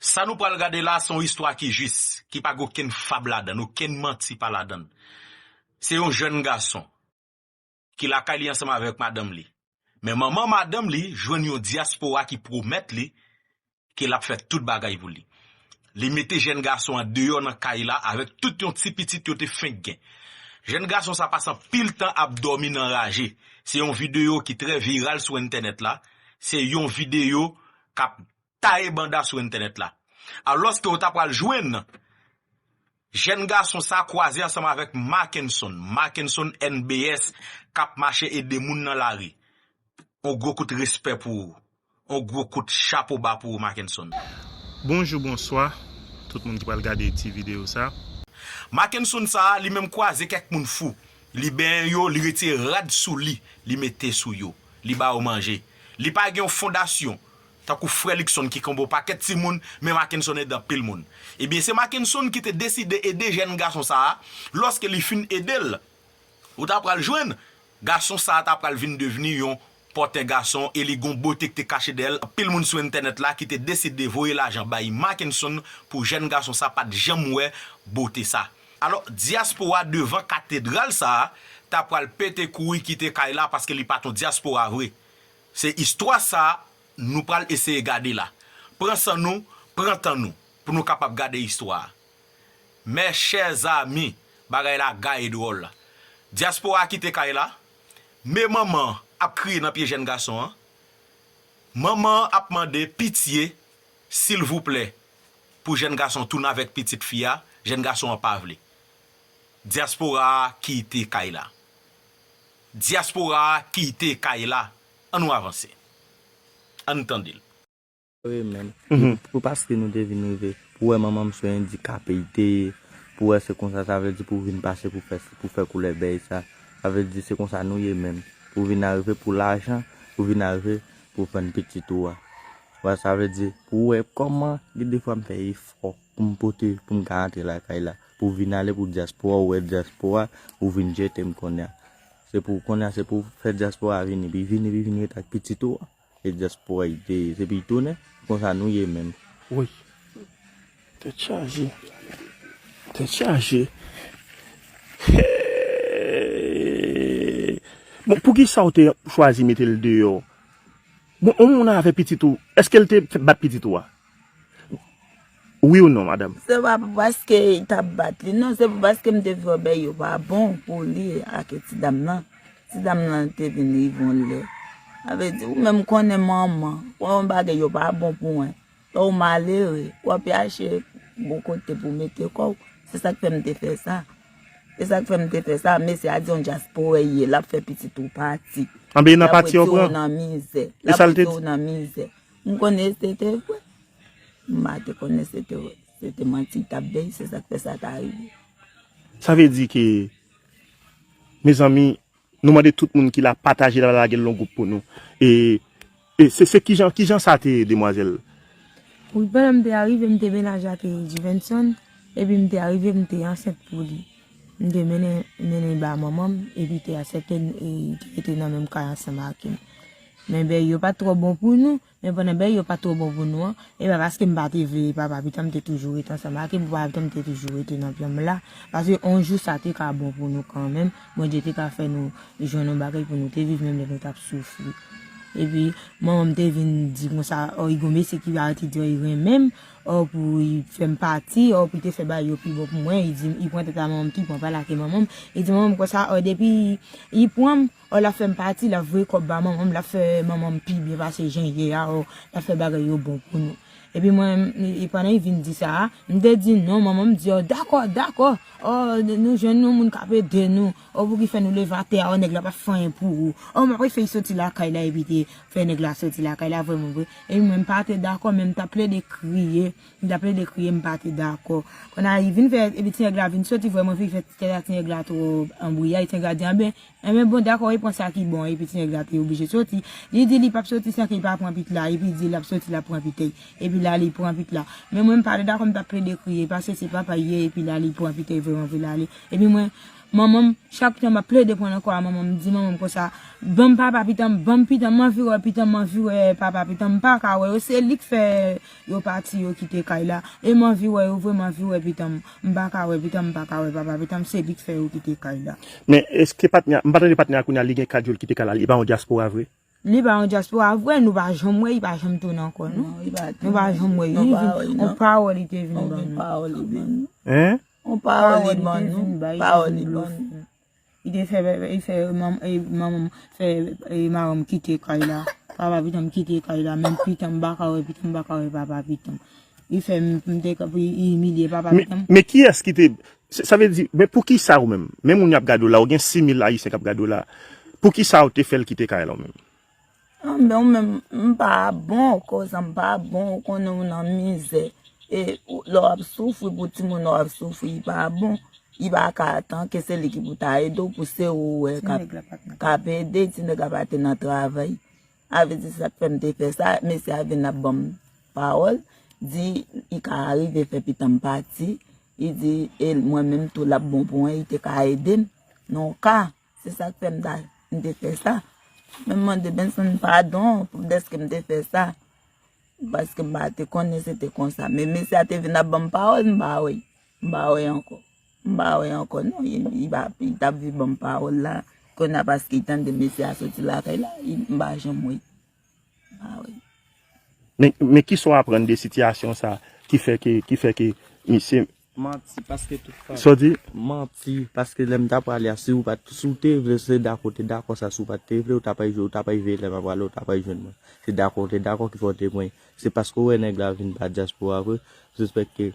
Sa nou pral gade la a se yon istwa ki jis, ki pa gen okenn fab ladan l, okenn manti pa ladan l. Se yon jèn gason ki lakay li ansanm avèk madanm li, men manman madanm li jwenn yon dyaspora ki pwomèt li ke l ap fè tout bagay pou li. Li mete jèn gason an deyò nan kay la avèk tout yon ti pitit yo te fenk gen. Jèn gason sa pase anpil tan ap dòmi nan raje. Se yon videyo ki trè viral sou entènèt la, se yon videyo k ap taye banda sou entènèt la. Alòske ou ta pral jwenn jèn gason sa kwaze ansanm avèk Makenson, Makenson NBS, k ap mache ede moun nan lari. On gwo kout respè pou ou. On gwo kout chapo ba pou ou Makenson. Bonjou bonswa tout moun ki pral gade ti video sa. Makenson sa a li menm kwaze kèk moun fou. Li benyen yo, li retire rad sou li, li mete sou yo. li ba yo manje. Li pa gen yon fondasyon tankou frè Luckson ki konbo pakèt timoun men Mackenson ede anpil moun. Ebyen se Mackenson ki te deside ede jèn gason sa a, lòske li fin ede l, ou ta pral jwenn gason sa a ta pral vin devni yon pòtè gason e li gen yon bote ki te kache dèyè l, anpil moun sou entènèt la ki te deside voye lajan bay Mackenson pou jèn gason sa pat janm wè bote sa. Alò, dyaspora devan katedral sa a ta pral pete kouri kite kay la paske li pa t yon dyaspora vre. Se istwa sa a nou pral eseye gade la. Pran san nou, pran tan nou pou nou kapab gade istwa a. Mè chè zami, bagay la gaye dwòl. Dyaspora a kite kay la, me manman an ap kriye nan pye jèn gason an. Manman an ap mande pitye, silvouplè, pou jèn gason tounen avèk pitit fi a, jèn gason an pa vle. Dyaspora a kite kay la. Dyaspora a kite kay la. An nou avanse. An n tande l. Sore menm. Pou paske nou te vin rive. Pou wè manman m se endikape li te ye. Pou wè se konsa sa vle di pou vin pase pou fè si pou fè koulè bèy sa. Sa vle di se konsa nou ye menm. Pou vin arive pou lajan. Pou vin arive pou vann pitit ou a. Wè sa vle di pou wè kòman gen de fwa m fè efò pou m pote pou m ka antre lakay la pou vin ale pou dyaspora ou wè dyaspora ou vin jete m konnya se pou konnya se pou fè dyaspora vini pi vini pi vini ret ak pitit ou an e dyaspora y te ye se pou y tounen konsa nou ye menm. Woy tèt chaje tèt chaje hee bon poukisa w te chwazi mete l deyò. Bon yon moun avè pitit ou eskel te bat pitit ou a wi ou non madame. Se pa pou paske li tap bat li non se pou paske m te vin wè bèy yo pa bon pou li ak ti dam nan ti dam nan te vin rive yon lè sa vle di ou menm konnen manman wè yon bagay yo pa bon pou mwen. Ou malere, w ap yache bon kote pou w mete kò w. Se sa k fè m te fè sa. Se sa k fè m te fè sa. Mesye a di yon dyasporè y ye. L ap fè pitit ou pati. Anben, nan pati yo pran. L ap wete w nan mizè. E sa l te di? L ap wete w nan mizè. M konnen se te vre. M pa te konnen se te vre. Se te manti l t ap bay. Se sa k fè sa ta rive. Sa vle di ke, mezanmi, Nou mande tout moun ki la pataje la lage l yon group pou nou e se se kijan kijan sa te ye demwazel. Wi pandan m te arive m te menaje ak Juvenson epi m te arive m te ansent pou li m te mennen Nene ba manman m epi te asepte li te rete nan menm kay ansanm ak m men bèy yo pat twò bon pou nou. Men pandan bèy yo pa t twò bon pou nou an, e pa paske m pa te vle li papa pitan m te toujou ret ansanm ak li pou papa pitan m te toujou rete nan plan m la, paske on jou sa te ka bon pou nou kanmenm, Bondye te ka fè nou jwenn on bagay pou nou te viv menm lè nou t ap soufri. Epi, manman m te vin di konsa, ò Igon mesi ki pa rete di ò li renmen m, ò pou li fè m pati, ò pou li te fè bagay yo pi bon pou mwen, li di m, li pran tèt a manman m tou, li pran pa l ake manman m, li di manman m konsa, ò depi li pran m, Or lap fèm pati lap voye kòb ba manmanm lap fè manmanm pi byen pase jan ye a or lap fè bagay yo bon pou nou epi mwen pandan li vin di sa a mte di non manmanm di or dakò dakò or nou jwenn yon moun kap ede nou or pouki fè nou leve atè a or nèg la pap fè anyen pou ou or mwen pral fè li soti lakay la epi te fè nèg la soti lakay la vrèman vre epi mwen mpa te dakò men mtap plede kriye mtap plede kriye mpa te dakò kounya li vin fè epi ti nèg la vin soti vrèman vre li fè tèt a ti nèg la twò anbriyay ti nèg la di anben Enben bon dakò e pran sa ki bon epi ti nèg la te oblije soti li di li pap soti san ke li pa pran pit la epi di lap soti lap pran pit ei epi la li pran pit la men mwen m pa dakò m tap plede kriye paske se papa li ye epi la li pran pit ei vreman vre la li epi mwen manman m chak tan map plede pran nan kò a manman m di manman m konsa banm papa pitan m banm pitan m anvi wè pitan m anvi wè papa pitan m m paka wè yo se lik fè. Yo pati yo kite kay la e m anvi wè yo vre m anvi wè pitanm m pa ka wè pitanm m pa ka wè papa pitanm se li k fè yo kite kay la. Men eske patnè m pa tande patnè a kounya li gen 4 jou l kite kay la li pa yon dyaspora vre. Li pa yon dyaspora vre nou pa janm wè li pa janm tounen ankò non nou pa janm wè li on pawòl li te vin ban nou. Hein? On pawòl li te vin ban nou. Li te fè manmanm fè mamanm kite kay la. Papa pitanm kite kay la. Menm pitanm pa ka wè pitanm pa ka wè papa pitanm. Li fè m te ka li imilye papa pitanm. Men kiyès ki te. Sa vle di men poukisa ou menm. Men moun y ap gade w la ou gen 6000 ayisyen k ap gade w la. Poukisa ou te fè l kite kay la ou menm? Anben ou menm m pa bon kouzan m pa bon ou konnen ou nan mizè e lè w ap soufri pou timoun ou ap soufri li pa bon li pa ka atan ke se li ki pou ta ede w pou se ou wè k ap ede ti nèg la pa te nan travay sa vle di sa k fè m te fè sa mesye a vin ap ban m pawòl di li ka rive fè pitan m pati li di e mwen menm tou l ap bon pou mwen li te ka ede m nan yon ka Se sa k fè m ta m te fè sa. Men m mande Benson padon pou dèske m te fè sa. Paske m pa te konnen se te konsa. Men mesye a te vin ap ban m pawòl m pa wè. M pa wè ankò. M pa wè ankò non. Li pa ap, li t ap vin ban m pawòl la. Kounye a paske li tande mesye a soti lakay la, m pa janm wè. Men kisa w aprann de sitiyasyon sa ki fè ke, ki fè ke misye. Manti paske tout fanm. Sa w di? Manti paske lè m ta prale a si w pat, si w te vle se dakò w te dakò sa si w pat te vle w ta pral jwenn, w ta pral veye lè m ap prale w ta pral jwenn mwen. Se dakò w te dakò ki fè w te pran, se paske w wè nèg la vin pa dyaspora vre, w sispèk ke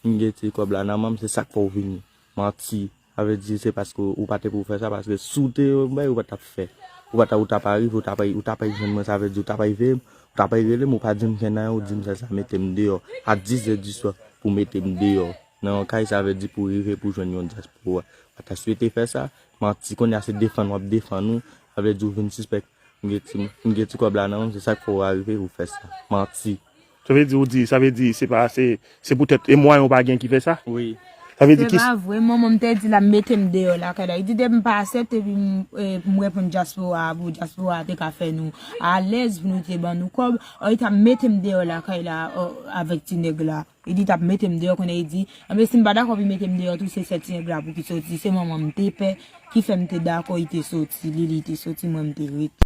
m gen ti kòb la nan men m se sak fè w vini. Manti. Sa vle di se paske ou pa te pou fè sa paske si w te yon bagay ou pa tap fè ou pa ta ou ta pa rive ou ta pa ou ta pa jwenn mwen sa vle di ou ta pa veye m ou ta pa rele m ou pa di m fè nan ou di m fè sa mete m deyò a dizè diswa pou w mete m deyò nan yon kay sa vle di pou rive pou jwenn yon dyaspora pa ta swete fè sa manti kounye a se defann wap defann ou sa vle di ou vin sispèk m gen ti m gen ti kòb la nan men m se sak fè ou arive ou fè sa manti. Sa vle di ou di, sa vle di se pa se, se pou tèt e mwayen ou pa gen ki fè sa? Wi. Sa vle di ki. Se pa vre, manman m te di l ap mete m deyò lakay la. Li di depi m pa asepte epi m reponn dyaspora a pou dyaspora a te ka fè nou alèz pou nou te ban nou kòb, ò li t ap mete m deyò lakay la avèk ti nèg la. Li di l t ap mete m deyò kounye a li di, anben si m pa dakò pou l mete m deyò tou se sè ti nèg la pou ki soti. Se manman m te pè ki fè m te dakò li te soti, li li te soti mwen m te rete.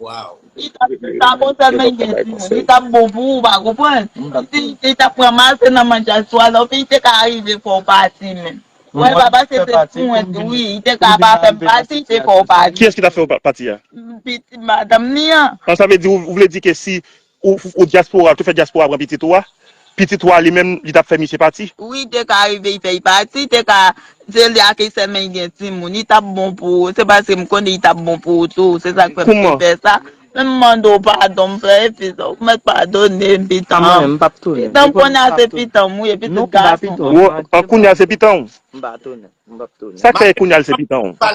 Waww. Li tap di sa bon sèl men gen ti moun li tap bon pou ou pa konprann si li tap pran mal se nan manj a swa la oubyen li te ka arive fè w pati menm wè pa pase se pwent wi li te ka pa fè m pati te fè w pati. Kiyès ki ta fè w pati a? Pitit madanm li an. An sa vle di ou vle di ke si Ou diaspora, tou fè diaspora pran pitit ou a, pitit ou a li menm li tap fè misye pati. Wi te ka rive y fè y pati te ka se li ak esèm men y gen timoun y tap bon pou ou se paske m konnen y tap bon pou ou tou se sak fè m te fè sa men m mande w padon m fè efè sa w mèt padone m pitanm pitanm kounye a se pitanm wi e pitit gason an kounye a se pitanm w sak fè kounye a l se pitanm w.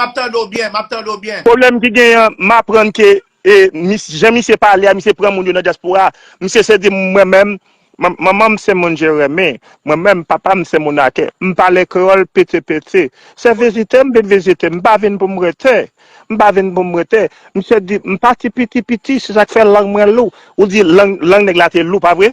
Map tande w byen, map tande w byen. Pwoblèm ki genyen an, m aprann ke e mis jan misye pale a, misye pran moun yo nan dyaspora. Misye se di m mwen menm, man manman m se moun Jeremi, mwen menm papa m se moun Ake. M pale kreyòl piti piti. Se vizite m vin vizite, m pa vin pou m rete. M pa vin pou m rete. Misye di m pati piti piti, se sa k fè lang mwen lou. Ou di lang lang nèg la te lou, pa vre?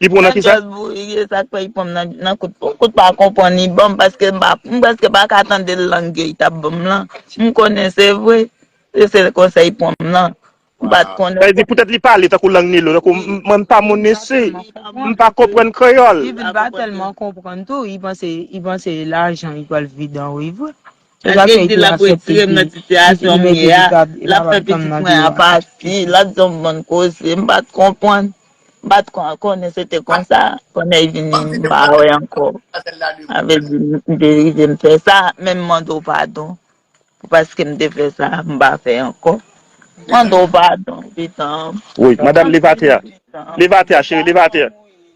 Li pran nan kisa? Nan jazz wi e sak fè li pranm nan kout pou kout pa konprann li banm paske m preske paka tande l lang yo li tap banm lan m konnen se vre se sel konsè li pranm nan m pat konnen Sa vle di poutèt li pale tankou lang Nilo tankou m pa moun isi m pa konprann kreyòl. Li vin pa tèlman konprann tou li panse li panse lajan li pral vidan wi vre. Tout zafè ete lap retire m nan sitiyasyon m ye a, lap fè pitit mwen a pati, lap di m bann koze, m pat konprann, m pat konnen se te konsa, konnèy vini m pa wè ankò, sa vle di m te rive m fè sa, men m mande w padon pou paske m te fè sa, m pa fè ankò, m mande w padon pitanm. Woy madam leve atè a, leve atè a cheri leve atè.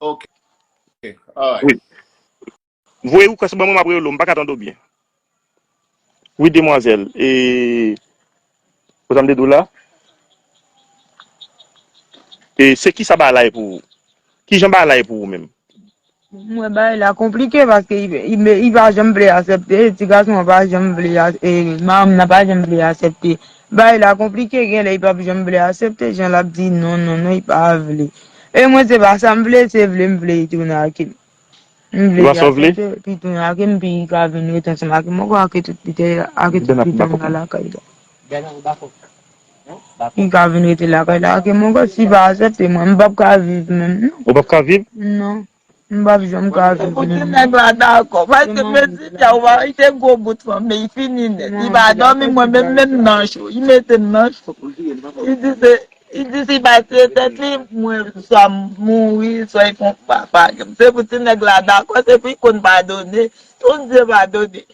Ok alright. Wi. Voye request ban mwen map rele w m paka tande w byen. Wi demwazèl e konsa m te di w la e se kisa ba la ye pou ou? Kijan ba la ye pou ou menm? Mwen bay la konplike paske li pa janm vle asèpte, ti gason an pa janm vle, e madanm nan pa janm vle asèpte Bagay la konplike genlè li pap janm vle asepte jan lap di non non non li pa vle e mwen se pa sam vle se vlem vle li tounen akem m vle li asepte epi tounen akem epi li ka vin ret ansanm akem mwen kwè ake tout pite ake tout pite m nan lakay la li ka vin rete lakay la akem mwen kwè si pa asepte mwen m pap ka viv menm non ou pap ka viv non. M pap janm ka viv menm. Fout nèg la dakò paske mezi fia ou pa kite gwo bout fanm li fini nèt li pa domi mwen menm menm nan cho li metem nan cho li di se li di si pa tiye tèt li mwen swa m mouri swa li fon papa se pou ti nèg la dakò se pou li konn padone ton dye padone.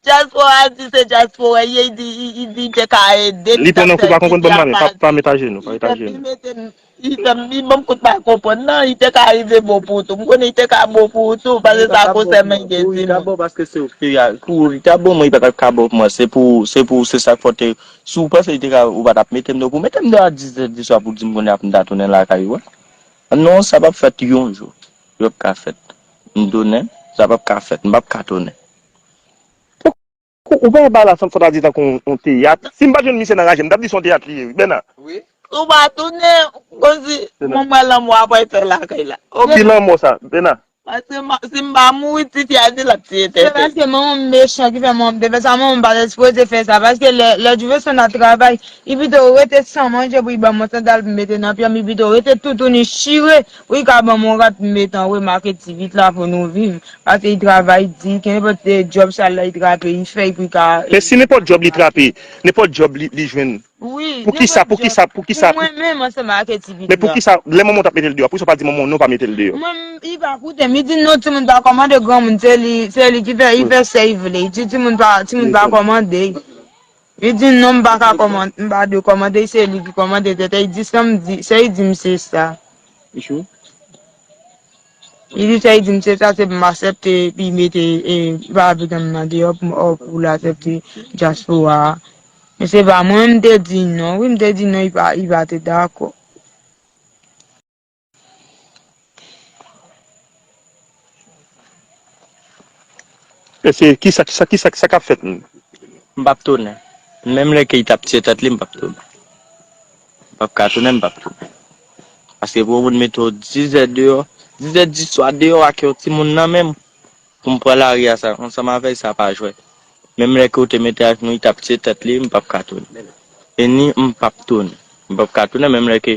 Dyaspora di se dyaspora ye y di te ka ede li ta fè di di a pa di y te pi mete y te mi banm kout pa konprann nan y te ka rive bon pou tou m konnen y te ka bon pou ou tou pase sa ko sè men gen ti moun y ta bon mwen y pa tap ka bon pou mwen se pou se pou se sak fè te si w panse y te ka ou pa tap mete m nan kou mete m nan a 10 zè di swa pou di m kounye a pou m ta tounen lakay ou a non sa pap fèt yon jou yo pap ka fèt m tounen sa pap ka fèt m pap ka tounen. Ou pa wè bal la sanfona di tankou yon teyat. Si m pa t jwenn misye nan raje m tap di se yon teyat li ye wi Bèna. Ou pa tounen ou konn si mwen mwen lanmò ap wè tè lakay la. Ki lanmò sa Bèna? Paske si m pa mouri ti fi a di lap tiye tè. Se paske manman m mechan ki fè manman m te fè sa manman m pa te sipoze fè sa paske lè Jefferson ap travay li pito rete san manje pou li banm yon sandal pou m mete nan pye m li pito rete toutouni chire Wi ka banm yon rat m met an remake ti vit la pou nou viv pase i travay di ke nenpòt djòb sal la i trape i fè epui ka Men si nenpòt djòb li trape nenpòt djòb li jwenn Wi poukisa nenpòt djòb poukisa poukisa pou mwen menm ansanm ake ti vit la men poukisa lè manman w tap metel deyò poukisa w pa di manman w non pa metel deyò. Mwen menm i pa koutem i di non timoun pa kòmande granmoun se li se li ki fè i fè sèy vle i di timoun pa timoun pa kòmande. Li di non m pa ka kòmante, m pa dwe kòmante, se li ki kòmante tèt e, li di sa m di, sa li di m se sa. Li di sa li di m se sa, se pou m asèpte epi mete e Babegann m nan deyò pou m o pou l asèpte dyaspora a. Men se pa mwen m te di non wi, m te di non li pa te dakò. Ese kisa kisa kisa kisa kap fèt menm. M pap tounen. Menm lè Keyta ap tiye tèt li m pap tounen. M pap ka tounen m pap tounen. Paske pou yon moun mete w 10 zè deyò, 10 zè di swa deyò ak yon timoun nan menm pou m pran lari a sa ansanm avè l sa pa jwè. Menm lè ke w te mete ak li tap tiye tèt li m pap ka tounen. E ni m pap tounen. M pap ka tounen menm lè ke.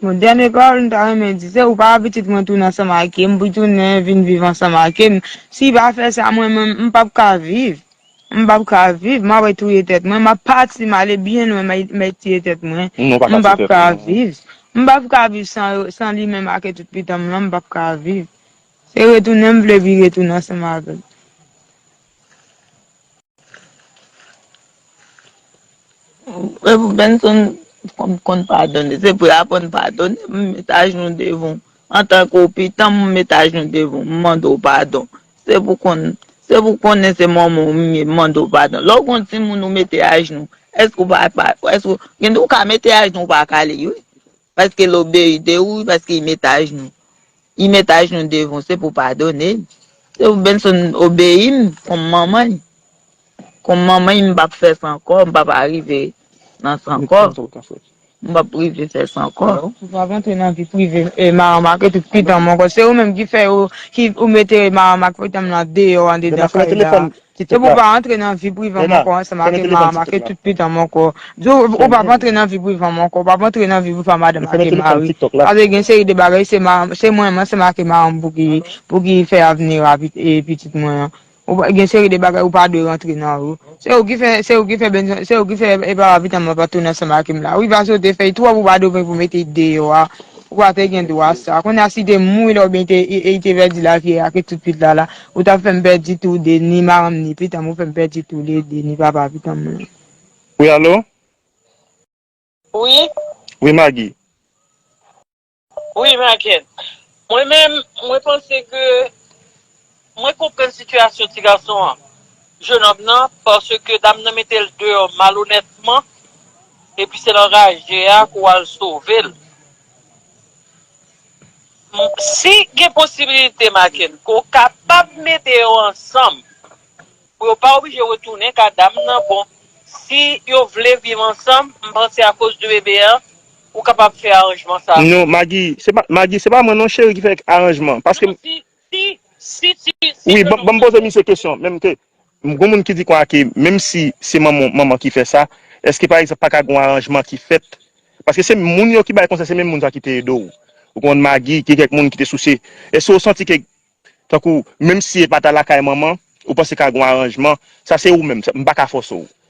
Bon dènye pawòl m ta renmen di se ou pa pitit mwen tounen ansanm ake m retounen vin viv ansanm ake m si pa fè sa mwen menm m pap ka viv m pap ka viv m apre touye tèt mwen m ap pati m ale byen lwen mèt tiye tèt mwen m pap ka viv m pap ka viv san yo san li menm ake tout pitan m lan m pap ka viv se retounen m vle pi retounen ansanm avè l. Frè m Benson, kòm m konn padone, se pou yo aprann padone. M met ajenou devan w, antan ke w pitan m, m met ajenou devan w, m mande w padon. Se pou w konn, se pou w konnen se manman w m ye, m mande w padon. Lè w gen yon timoun ou mete ajenou, èske ou pa, èske ou, gen de w ka mete ajenou ou pa kale li wi. Paske l obeyi de ou, paske i met ajnou. I met ajnou devan w, se pou w padone l. Se pou Benson obeyi m kòm manman li. Kòm manman li m p ap fè san kò, m p ap arive nan san kò. M p ap rive fè san kò. Ou pa ap antre nan vi prive Maranm ak tout pitanm ankò. Se ou menm ki fè yo, ki ou mete Maranm ak pitanm lan deyò andedan kay la. Se pou w pa antre nan vi prive Moko ansanm ak Emma a make tout pitan Moko di w ou pap antre nan vi prive Moko ou pap antre nan vi prive madanm ak Emma wi paske gen seri de bagay se mwen menm ansanm ak Emma an pou ki fè avni pitit mwen an gen seri de bagay ou pa dwe rantre nan yo se ou ki fè se ou ki fè papa pitanm lan pat tounen ansanm ak Emma wi pa sote fèy twòp ou pa dwe pou mete li deyò a ou pa te gen dwa sa kounye a si te mouri lè oubyen li te pèdi lavi a ake tout pitan la. Ou tap fèm pèdi tou de ni maranm ni pitanm ou fèm pèdi tou le de ni papa pitanm mwen. Wi alo? Wi? Wi Magi? Wi Magen? Mwen menm mwen panse ke mwen konprann sitiyasyon ti gason an, jenòm nan paske dam nan mete l deyò malonètman epi se nan raje a ke w al sove l. Si gen posibilite Makenn, ke w kapab mete yo ansanm pou yo pa oblije retounen ka dam nan, bon si yo vle viv ansanm, m panse akoz de bebe an, ou kapab fè aranjman sa. Non Magi, se pa Magi, se pa mwen non cheri ki fè aranjman, paske m. Non si, si, si ti, si non non. Wi, banm poze misye kesyon, menm ke Gon moun ki di konnya ke menm si se manman manman ki fè sa, eske pa egzanp pa ka gon aranjman ki fèt? Paske se moun yo ki bay konsèy, se menm moun sa ki te ede w. Ou konprann Magi, gen kèk moun ki te souse. Eske ou santi ke tankou menm si e pa ta lakay manman, ou panse ka gon aranjman? Sa se ou menm, m pa ka fòse w.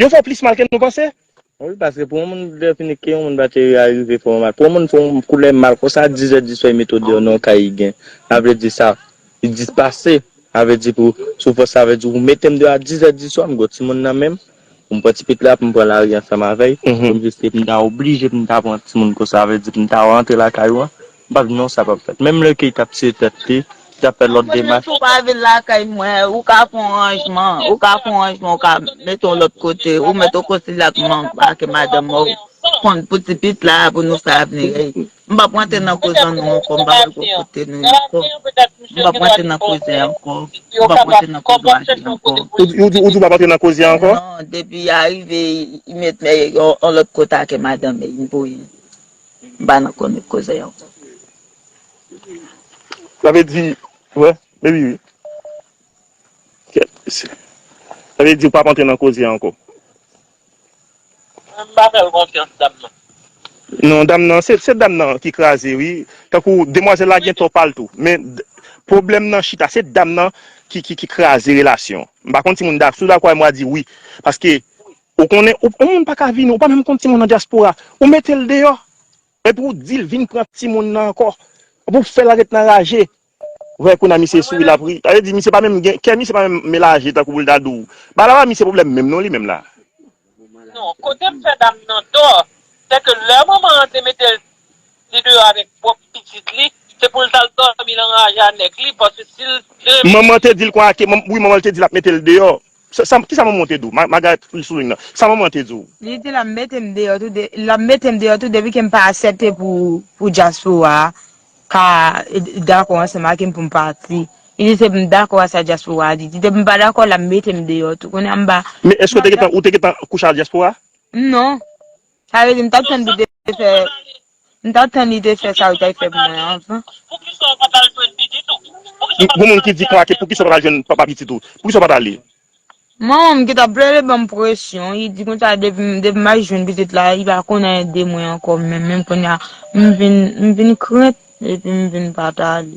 Yo fè plis mal ke nou panse. Wi paske pou yon moun defini ke yon moun bateri a rive fè yon mal. Pou yon moun fè yon koulè mal konsa a 10 è di swa e mete w deyò nan yon kay li gen. Sa vle di sa li di pase. Sa vle di pou sou fòs sa vle di ou mete m deyò a 10 è di swa m gen yon timoun nan menm pou m pran ti pit la pou m pran lari ansanm avè l pou m jis m ta oblije pou m ta pran timoun konsa sa vle di pou m ta rantre lakay ou an. M pa di non sa pap fèt. Menm lè ke li tap tire tèt li, li tap fè lòt demach. Mwen menm tou pa vin lakay mwen, ou ka fè yon ranjman, ou ka fè yon ranjman ou ka mete yon lòt kote, ou mèt ou konsile ak manmanw ak madanm ou konn pou ti pit la pou nou fè avni ey. M pap rantre nan koze an non ankò, m pa vle gwo kote nou yo ankò. M pap rantre nan koze an ankò, m pap rantre nan koze Max lan ankò. Ou di ou pap rantre nan koze an ankò? Non, depi ya rive li mèt mèt yon lòt kote ak madanm ey, m pou yen. Ba nou konnen koze an. Sa vle di wè baby wi. Sa vle di ou pap antre nan koze an anko. Mwen pa fèl konfyans dam nan. Non dam nan se dam nan ki kraze wi tankou demwazèl la gen tò pal tou men pwoblèm nan chita se dam nan ki kraze relasyon m pa konn si moun dak si w dakò avè m wa di wi paske Ou konnen ou moun paka vini ou pa menm konn timoun nan dyaspora ou metel deyò epi ou dil vin pran timoun nan ankò pou fèl ret nan raje wè kounya misye sou wi lap ri sa vle di misye pa menm gen kè misye pa menm melaje tankou poul ta diw bagay la pa misye pwoblèm menm non li menm la. Non kotem fè dam nan tò sèke lè manman an te metel li deyò avèk pwòp pitit li se poul tal dòmi nan raje a nèg li paske sil te. Manman te dil kon ake wi manman li te dil ap metel deyò Kisa manman w te di w? Margaret li souligne nan. Sa manman an te di w? Li di l ap mete m deyò tou l ap mete m deyò tou depi ke m pa asèpte pou dyaspora a ka dakò ansanm ak m pou m pati. Li di se pou m dakò a sa dyaspora a di. Di depi m pa dakò l ap mete m deyò tou. Kounye a m pa. Men eske ou te gentan kouche ak dyaspora? Non. Sa vle di m t ap tann pou l te fè m t ap tann li te fè sa l te fè pou mwen anvan. Pou moun ki di klake poukisa w pa t al jwenn papa pitit ou? Poukisa w pa t ale? Manman m ki t ap plede ban m presyon li di konsa depi depi m al jwenn pitit la li pa konn anyen de mwen ankò menm menm kounye a m vin m vin krent epi m vin pa t ale.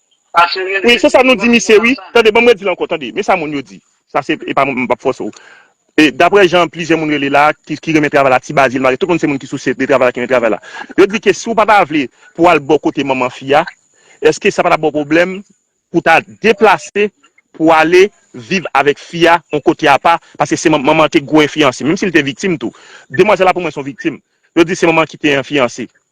Wi se sa nou di misye wi. Tande banm redi l ankò tande men sa moun yo di sa se epa m pap fòse w e daprè jan plizyè moun rele la ki renmen travay la ti bazi l mare tout moun se moun ki sousye de travay la ki renmen travay la yo di ke si w pa ta vle pou w al bò kote manman fi a èske sa pa tap ba w pwoblèm pou w ta deplase pou w ale viv avèk fi a yon kote apa paske se manman manman an te gwo enfliyanse menm si l te viktim tou demwazèl la pou mwen se yon viktim yo di se manman an ki te enfliyanse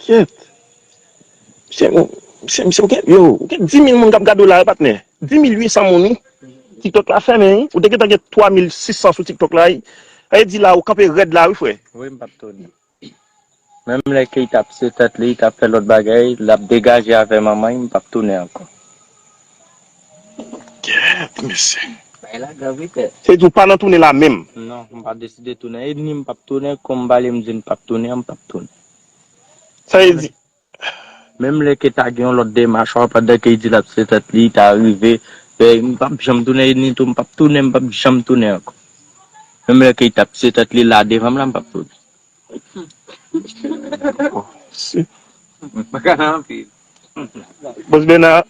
Kyèt. Misye gon, misye, misye ou gen, yow, ou gen dimil moun k ap gade w la wi patnè. Dimil wi san moun wi. Tiktok la fèmen wi. Ou te gentan gen twamil sisan sou tiktok la wi. Sa vle di la ou kanpe rèd la wi frè. Wi m p ap toni. Menm lè ke li t ap se tèt li, li t ap fè lòt bagay, l ap degaje avè manman li, m p ap tounen ankò. Kyèt mesye. Bagay la grav wi pè. Se vle di ou pa nan tounen la menm. Non, m pa deside tounen. E ni m p ap tounen, konbale m di m p ap tounen an, m p ap tounen. Sa e di. Menm lè ke ta gen yon lòt demach an pandan ke li di lap se tèt li ta rive m pap janm tounen e ni tou m pap tounen m pap janm tounen ankò. Menm lè ke li tap se tèt li la devan m la m pap tounen. Bòs Bèna.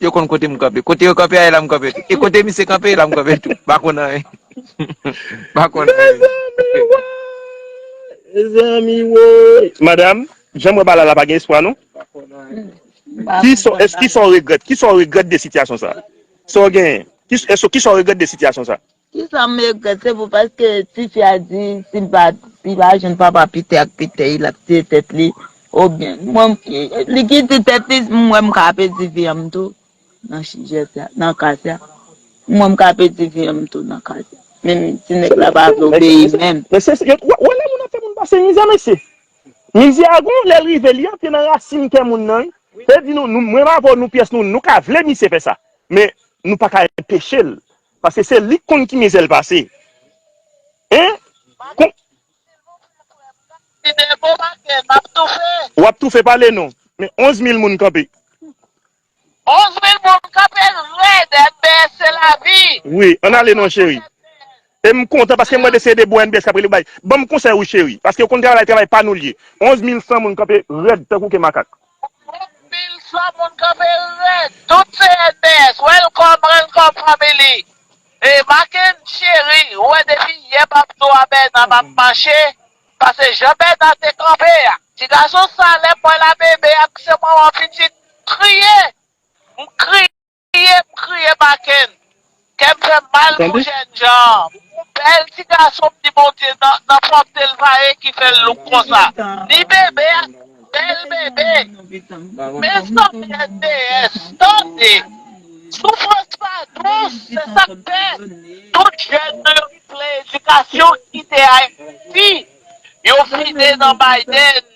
Yo konn kote m kanpe. Kote yo kanpe a e la m kanpe tou. E kote misye kanpe e la m kanpe tou. M pa konn anyen. M pa konn anyen. Mezanmi woy! Madam, jan m wè bagay la pa gen espwa non. Kisa w regrèt? Kisa w regrèt de sitiyasyon sa? Sa w genyen? Kisa w regrèt de sitiyasyon sa? Kisa m regrèt se pou paske tifi a di si l pa si l pa jwenn papa pite ak pitèy l ap tiye tèt li obyen mwen li ki di tèt li m wè m ka pèdi vi anm tou nan sijè sa nan ka sa m wè m ka pèdi vi anm tou nan ka sa menm si nèg la pa vle obeyi menm. Mesye se yo wè lè moun ap fè moun pase mizè mesye mizè a gon lè l rive li antre nan rasin kè moun nan wi se di nou mwen m avè w nou pyès nou nou ka vle misye fè sa men nou pa ka enpeche l Paske se lik konn ki mizèl pase hein kon. Silvouplè frèm mwen ap kite bon bagay map toufe. Wap toufe pale non men 11 mil moun kanpe. 11 mil moun kanpe rèd mbs se lavi. Wi ann ale non cheri. Em kontan paske mwen de se de bon mbs kap rele bay banm konsèy wi cheri paske ou konn travay travay pa nou liye 11 mil san moun kanpe rèd tankou ke makak. Anpil fò moun kanpe rèd tout cnph welcome welcome family e Makenn cheri ou wè depi yè pap do a Bernard ap mache pase jan Bernard te kanpe a ti gason sa lèm wèl a bebe ak se manman pitit m kriye m kriye Kriye m kriye Bakenn, kè m fè m mal pou jènjan an. Bèl ti gason m di Bondye nan pwòpte l pa e ki fè l louk konsa. Ni bebe a, bèl bebe. Mezanmi NDS, tande! Soufrans pa dous, se sa k fè tout jèn nou yo ki vle edikasyon kite Ayiti, yo file nan Biden.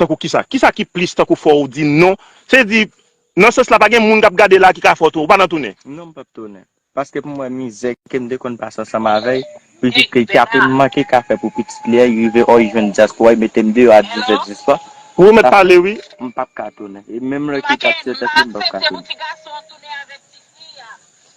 Tankou kisa? Kisa ki plis tankou fò ou di non? Se di, nan sans la pa gen moun k ap gade la ki ka fè w tounen, ou pa nan tounen? Non m pap tounen. Paske m wè mizè ke m te konn pase ansanm avè y, pitit li ki ape manke kafe pou pitit li a, y rive ò y jwenn dyaspora y mete m deyò a dizè diswa, Pou ou mèt pale wi. M pap ka tounen. E menm lè ki t ap tiye tèt li m pap ka tounen.